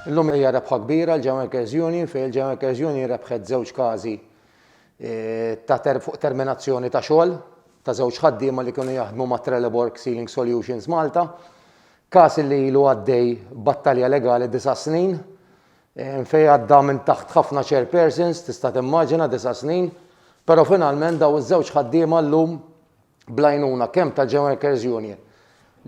Illum hija rebħa kbira l-German Union fejn il-German Union rebħet żewġ każi ta' fuq terminazzjoni ta' xogħol ta' żewġ ħaddiema li kienu jaħdmu ma' Trelleborg Ceiling Solutions Malta. Każ li ilu għaddej battalja legali disa' snin fejn għadda minn taħt ħafna chairpersons tista' timmaġina disa' snin, però finalment dawn iż-żewġ ħaddiema llum bl-għajnuna kemm tal-Germanworkers Union,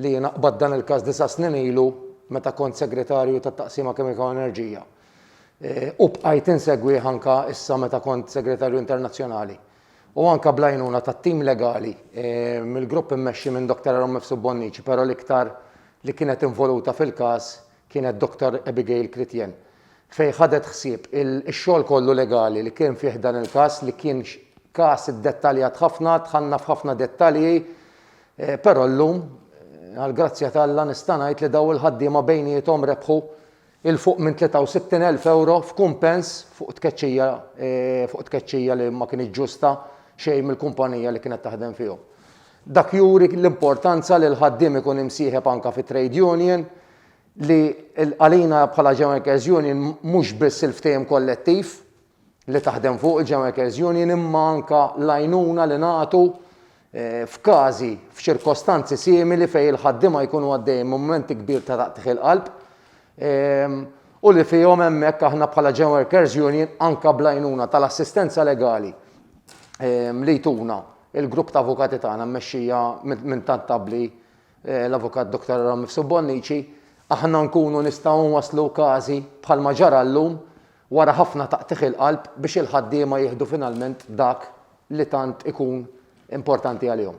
li jiena qbadt dan il-każ disa' snin ilu meta kont Segretarju tat-Taqsima Kimika u Enerġija, u bqajt insegwih anke issa meta kont Segretarju Internazzjonali, u anke bl-għajnuna tat-tim legali mill-grupp immexxi minn Dottor Aaron Mifsud Bonnici, però l-iktar li kienet involuta fil-każ kienet Dr. Abigail Chritien, fejn ħadet ħsieb ix-xogħol kollu legali li kien fi ħdan il-każ li kien każ iddettaljat ħafna, dħalna f'ħafna dettalji, però llum għall-grazzja t'Alla nista' ngħid li dawn il-ħaddiema bejniethom rebħu 'l fuq minn 63 elf ewro f'kumpens fuq tkeċċija fuq tkeċċija li ma kinitx ġusta xejn mill-kumpanija li kienet taħdem fihom. Dak juri l-importanza li l-ħaddiem ikun imsieħeb anke fi trade union li għalina bħala Gen Workers Union mhux biss il-ftehim kollettiv li taħdem fuq il-Gen Workers Union imma anke l-għajnuna li nagħtu f'każi, f'ċirkostanzi simili fejn il-ħaddiema jkunu għaddejjin minn mument kbir ta' taqtigħ il-qalb u li fihom hemmhekk aħna bħala Gen Workers Union anke bl-għajnuna tal-assistenza legali li jtuna Il-grupp ta' avukati tagħna mmexxija minn tant abbli l-Avukat Dottor Aaron Mifsud Bonnici, aħna nkunu nistgħu nwasslu każi bħalma ġara llum wara ħafna taqtigħ il-qalb biex il-ħaddiema jieħdu finalment dak li tant ikun importanti għalihom.